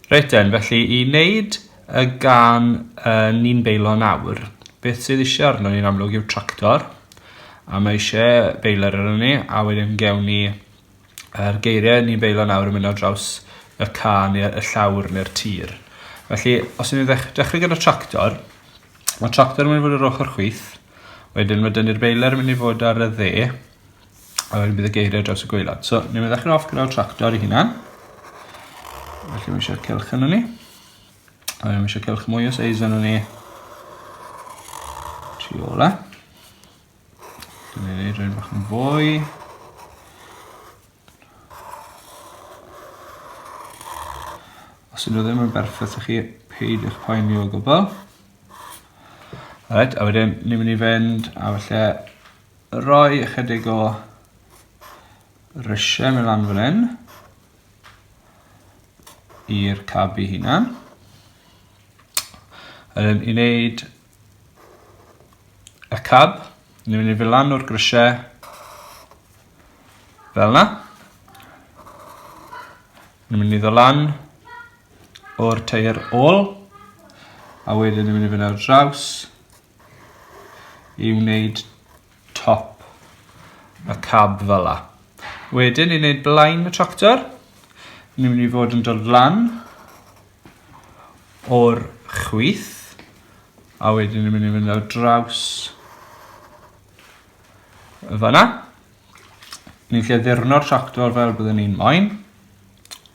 Reit den, felly i wneud y gan y ni'n beilo nawr, beth sydd eisiau arno ni'n amlwg yw tractor, a mae eisiau beiler arno ni, a wedyn gewn ni yr geiriau ni'n beilo nawr yn mynd ar draws y ca neu y llawr neu'r tir. Felly, os ni'n ddech dechrau gyda tractor, mae tractor yn mynd i fod yr ochr chwith, wedyn mae dynnu'r beiler yn mynd i fod ar y dde, A wedyn bydd y geiriau ar draws y gwaelod. So, ni'n mynd i ddechrau off gyda'r tractor i hunan. Felly mae eisiau cylch yn ni. A mae eisiau cylch mwy o seis yn ni. Tri ola. Dwi'n ei wneud rhywun bach yn fwy. Os ydyn nhw ddim yn berffaith i chi, peidiwch poeni o gwbl. Alright, a wedyn ni'n mynd i fynd a falle Rhoi ychydig o risiau mewn lan fan hyn i'r cabu hunan. Yn i wneud y cab, ni'n mynd i fy lan o'r grisiau fel yna. Ni'n mynd i ddod lan o'r teir ôl a wedyn ni'n mynd i fynd ar draws i wneud top y cab fel la. Wedyn i wneud blaen y tractor, ni'n mynd i fod yn dod lan o'r chwith, a wedyn ni'n mynd i fynd ar draws y fanna. Ni'n lle ddurno'r tractor fel byddwn ni'n moyn.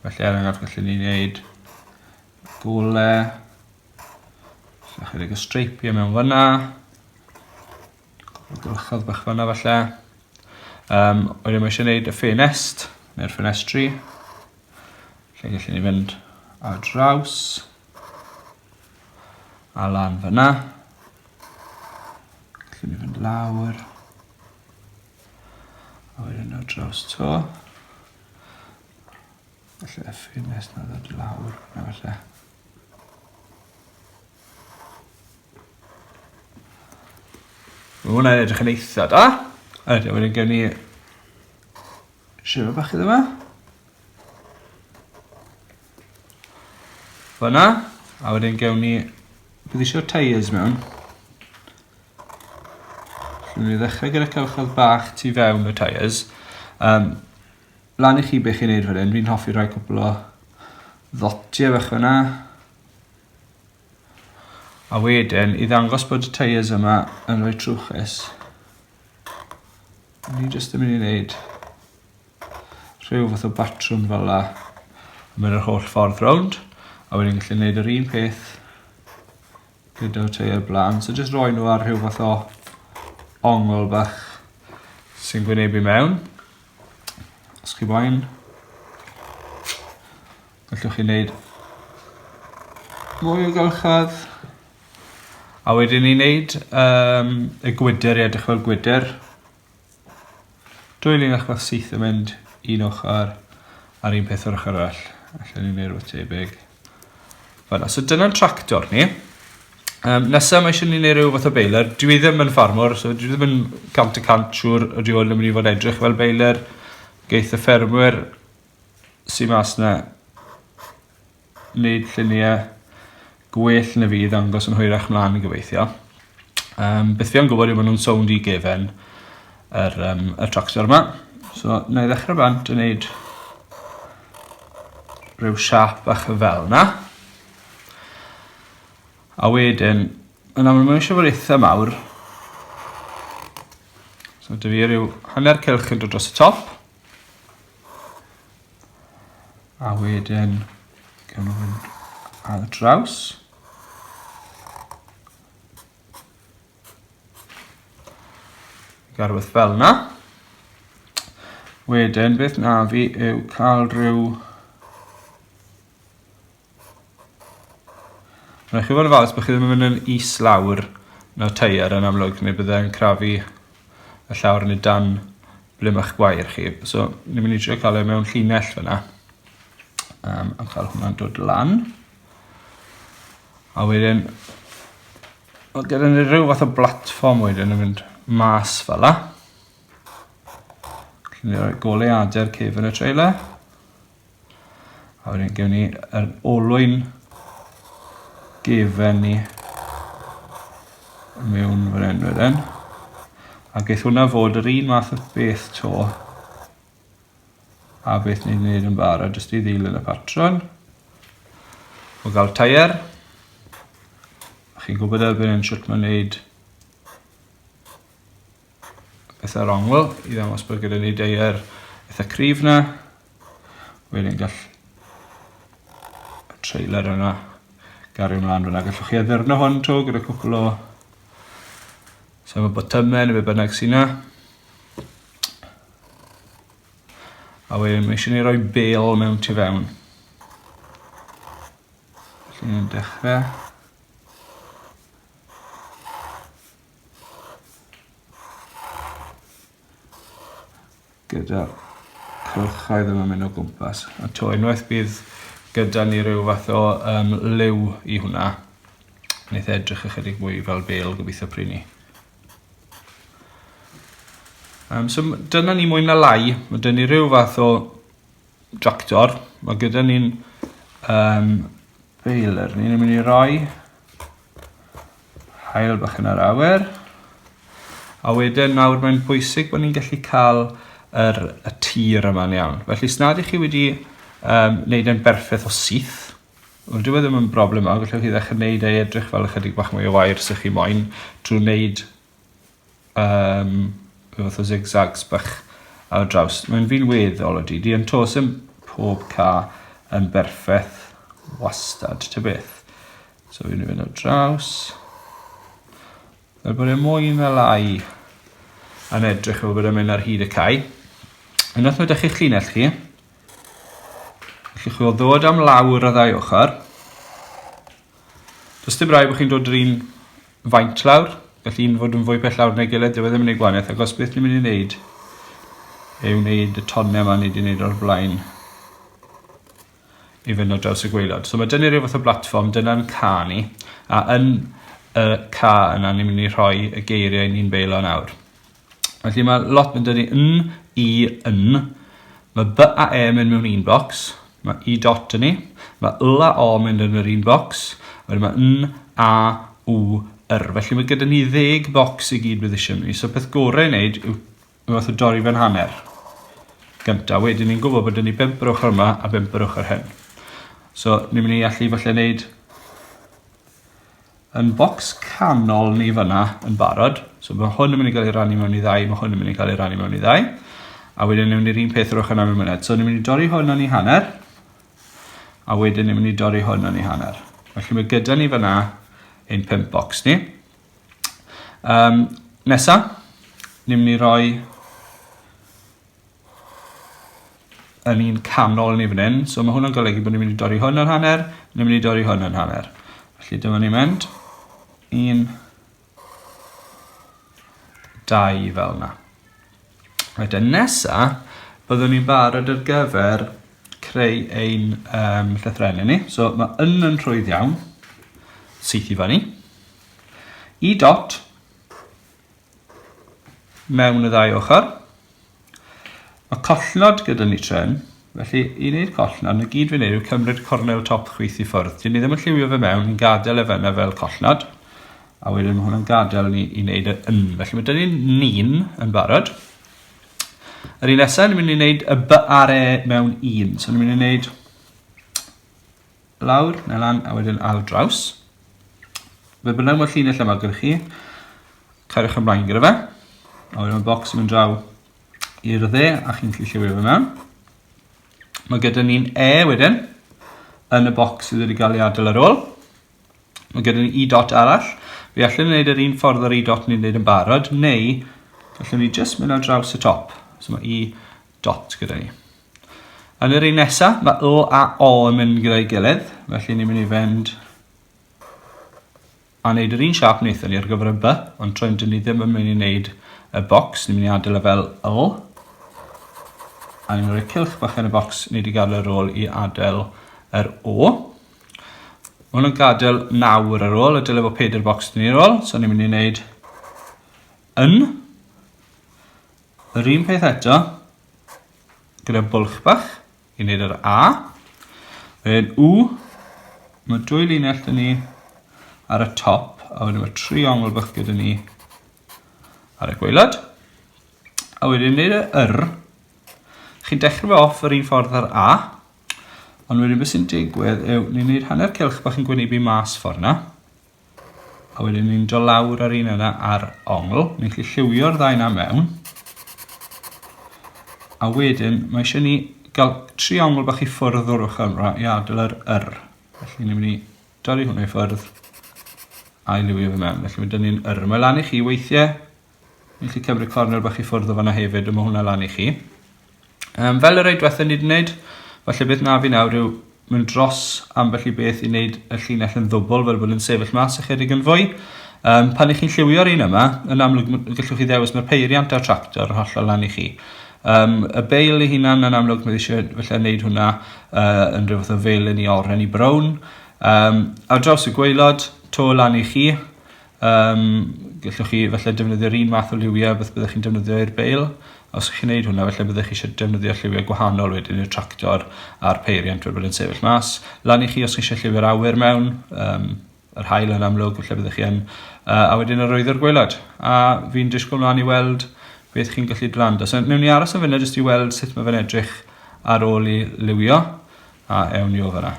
Felly er enghraifft gallwn ni wneud Gole. Chydig o streipiau mewn fyna. Gwrchodd bach fyna falle. Um, wedyn mae eisiau gwneud y ffenest, neu'r ffenestri. Lle gallwn ni fynd ar draws. A lan fyna. Gallwn ni fynd lawr. A wedyn ar draws to. Falle y ffenest na ddod i lawr, na falle. Mae hwnna'n edrych yn eitha da. A wedyn wedyn gen i sifa bach iddo fe. Fyna. A wedyn gewn ni... Bydd eisiau tyres mewn. Dwi'n mynd i ddechrau gyda cylchoedd bach tu fewn y tyres. Um, Lan i chi be' chi'n neud wedyn fi'n hoffi rhoi cwpwl o ddotie fach fynna. A wedyn i ddangos bod y tyres yma yn roi trwchus ni jyst yn myn' i neud rhyw fath o batrwm fel 'a. Mynd yr holl ffordd rownd a wedyn gallu neud yr un peth gyda'r teiau blaen. So jyst roi nhw ar rhyw fath o ongl bach sy'n gwynebu mewn. Os chi boen, gallwch chi wneud mwy o gylchfad. A wedyn ni'n wneud um, y gwydr i edrych fel gwydr. Dwy linell bach syth yn mynd un ochr a'r un peth o'r ochr arall. Allen ni wneud rhywbeth tebyg. Fel so dyna'n tractor ni. Um, nesa mae eisiau ni wneud rhyw fath o beiler. Dwi ddim yn ffarmwr, so dwi ddim yn cant y cant siŵr o dwi hwn yn mynd i fod edrych fel beiler. Geith y ffermwyr sy'n mas na neud llunie gwell na fi i ddangos yn hwyrach mlan gobeithio. Yym beth fi am gwbod yw ma' nw'n sownd i gefen yr yym y tractor 'ma. So 'nai ddechre bant a neud rhyw siâp bach fel 'na. A wedyn yn amlwg ma' isie fod itha mawr. So 'da fi ryw hanner cylch yn dod dros y top. A wedyn, gawn nhw fynd ar y draws. Garweth fel yna. Wedyn, beth na fi yw cael rhyw Rhaid chi fod yn falch bo' chi ddim yn myn' yn is lawr na'r teier yn amlwg ne' bydde e'n crafu y llawr yn y dan ble ma'ch gwair chi so ni myn' i trio ca'l e mewn llinell fan 'na. Yym a ch'el hwnna'n dod lan. A wedyn o gyda ni ryw fath o blatfform wedyn yn mynd mas fel 'a. Gallu ni roi goleuade'r cefn y trailer. A wedyn gewn ni yr olwyn gefen ni mewn fan hyn wedyn. A geith hwnna fod yr un math o beth to a beth ni'n gwneud yn barod jyst i ddilyn y patron o gael tair. A chi'n gwybod erbyn hyn sut mae'n gwneud pethau'r ongl i ddangos bod gyda ni dair eitha cryf na. Wedyn gall y trailer yna gario mlaen fyna. Gallwch chi addurno hwn to gyda cwpl o sef y botymau neu be bynnag sy'n na. A wedyn mae eisiau ni roi bel mewn tu fewn. Felly ni'n dechrau. gyda cylchoedd yn ymuno gwmpas a to unwaith bydd gyda ni rhyw fath o um, liw i hwnna wneith e edrych ychydig mwy fel bel gobeithio pry ni um, so dyna ni mwy na lai mae dyn ni rhyw fath o Doctor ma' gyda ni'n yym feiler ni ni myn' i roi haul bach yn yr awyr a wedyn nawr mae'n bwysig bo' ni'n gallu ca'l yr y tir yma'n iawn felly os nad 'ych chi wedi yym neud e'n berffeth o syth wel dyw e ddim yn broblem mawr gellwch chi ddechre neud e i edrych fel ychydig bach mwy o wair os o'ch chi moyn trw neud yym rhyw fath o zigzags bach ar y draws. Mae'n fi'n weddol o didi yn tos yn pob ca yn berffeth wastad, ty beth. So fi'n mynd ar draws. Fel bod e mwy na lai yn edrych fel bod e'n mynd ar hyd y cae. Unwaith mae dych chi'ch llinell chi, chi chwil ddod am lawr y ddau ochr, Does dim rhaid bod chi'n dod yr un faint lawr, gall un fod yn fwy pell lawr neu gilydd, dyw e ddim yn ei gwanaeth, ac os beth ni'n mynd i wneud yw wneud y tonnau yma ni wedi wneud o'r blaen i fynd o draws y gweilod. So mae dynnu rhyw fath o blatfform, dyna'n ca ni, a yn y ca yna ni'n mynd i rhoi y geiriau ni'n beilo nawr. Felly mae lot yn dynnu yn, i, yn. Mae b a e yn mynd mewn un bocs. Mae i dot yn ni. Mae l a o yn mynd yn yr un bocs. Wedyn mae n, a, w, yr. Felly mae gyda ni ddeg bocs i gyd bydd eisiau ni. So peth gorau i wneud yw fath o dorri fe'n hanner. Gynta, wedyn ni'n gwybod bod ni bimp yr ochr yma a bimp yr ochr hyn. So ni'n mynd i allu falle wneud yn bocs canol ni fyna yn barod. So mae hwn yn mynd i gael ei rannu mewn i ddau, mae hwn yn mynd i cael ei rannu mewn i ddau. A wedyn ni'n mynd i'r un peth yr ochr yna mewn myned. So ni'n mynd i dorri hwn yn ei hanner, a wedyn ni'n mynd i dorri hwn yn ei hanner. Felly mae gyda ni fyna ein pimp bocs ni. Um, nesa, ni'n mynd i roi yn un canol ni fan 'yn so ma' hwnna'n golygu bo' ni mynd i dorri hwn ar hanner ni myn' i dorri hwn yn hanner. Felly dyma ni'n mynd. Un. Dau fel 'na. Wedyn nesa byddwn ni'n barod ar gyfer creu ein yym llythrenne ni. So ma' yn yn rhwydd iawn. Syth i fyny. Y dot mewn y ddau ochr. Mae collnod gyda ni tren, felly i wneud collnod, na gyd fi'n neud yw cymryd cornel top chwith i ffwrdd. Dyn ni ddim yn lliwio fe mewn, ni'n gadael e fyna fel collnod, a wedyn mae hwnna'n gadael ni i wneud y yn. Felly mae dyn ni'n ni'n yn barod. Yr un nesaf, ni'n mynd i wneud y by ar e mewn un. So ni'n mynd i wneud Lawr, na lan, a wedyn ar draws. Fe bynnag mae'r llinell yma gyda chi, cariwch ymlaen gyda fe. A wedyn mae bocs yn mynd draw i'r dde a chi'n gallu lliwio fe mewn. Mae gyda ni'n E wedyn yn y bocs sydd wedi cael ei adael ar ôl. Mae gyda ni i dot arall. Fi allan yn gwneud yr un ffordd o'r i dot ni'n gwneud yn barod, neu allwn ni jyst mynd ar draws y top. So mae i dot gyda ni. Yn yr un nesa, mae O a O yn mynd gyda'i gilydd, felly ni'n mynd i fynd a wneud yr un siap wnaethon ni ar gyfer y by, ond tro'n dyn ni ddim yn mynd i wneud y bocs, ni'n mynd i adael y e fel O. A ni'n mynd i roi cilch bach yn y bocs ni wedi gadael ar ôl i adael yr O. Mae hwn yn gadael nawr ar ôl, y dylai fod pedair bocs dyn ni ar ôl, so ni'n mynd i wneud yn. Yr un peth eto, gyda bwlch bach i wneud yr A. Wedyn U, mae dwy linell dyn ni ar y top, a wedyn mae tri ongl bach gyda ni ar y gweilad. A wedyn wneud y yr, chi'n dechrau fe off yr un ffordd ar A, ond wedyn beth sy'n digwydd yw ni'n gwneud hanner cilch bach yn gwynebu mas ffordd yna, A wedyn ni'n do lawr ar un yna ar ongl. Ni'n gallu lliwio'r ddau na mewn. A wedyn, mae eisiau ni gael tri ongl bach i ffwrdd o'r ochr yma i adael yr yr. Felly ni'n mynd i dorri hwnna i ffwrdd a'i liwio fe mewn. Felly mae dyn ni'n yr. Mae lan i chi weithiau Ni allu cymryd cornel bach i ffwrdd o fanna hefyd a ma' hwnna lan i chi. Um, fel y rei diwetha ni wedi wneud, falle beth na fi nawr yw mynd dros ambell i beth i wneud y llinell yn ddwbl fel bod yn sefyll mas ychydig yn fwy. Um, pan ych chi'n lliwio'r un yma, yn amlwg gallwch chi ddewis mae'r peiriant a'r tractor yn hollol lan i chi. Um, y beil ei hunan yn amlwg mae eisiau felly wneud hwnna uh, yn rhyw fath o fel yn i oren i brown. Um, ar draws y gweilod, to lan i chi, Yym gellwch chi falle defnyddio'r un fath o liwie a beth byddech chi'n defnyddio i'r beil. Os chi'n neud hwnna falle byddech chi isie defnyddio lliwie gwahanol wedyn i'r tractor a'r peiriant fel bod e'n sefyll mas. Lan i chi os chi isie lliwie'r awyr mewn yym yr haul yn amlwg falle byddech chi yn yy a wedyn arwyddo'r gwaelod. A fi'n disgwl mlan i weld beth chi'n gallu grando. So newn ni aros am funud jyst i weld sut ma' fe'n edrych ar ôl i liwio a ewn ni o fan 'na.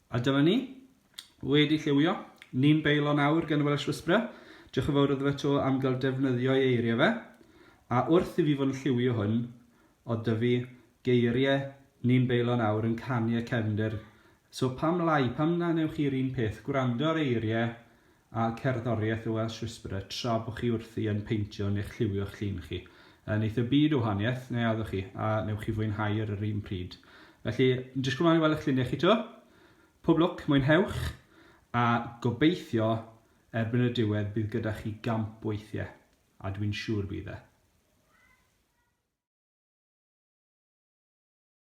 A dyma ni, wedi lliwio. Ni'n beilo nawr gan y Welsh Whisperer. Diolch yn fawr iddo fe 'to am gael defnyddio ei eiriau fe. A wrth i fi fod yn lliwio hwn, oedd 'da fi geiriau Ni'n beilo nawr yn canu y cefnder. So pam lai, pam na wnewch chi'r un peth, gwrando ar eiriau a cerddoriaeth y Welsh Whisperer tra bo chi wrthi yn peintio neu'ch lliwio'ch llun chi. Neith y byd o wahaniaeth, neu addo chi, a newch chi fwynhau ar yr un pryd. Felly, yn disgwyl mlaen i weld eich lluniau chi 'to. Pob lwc, mwynhewch, a gobeithio erbyn y diwedd bydd gyda chi gamp weithie, a dwi'n siŵr bydd e.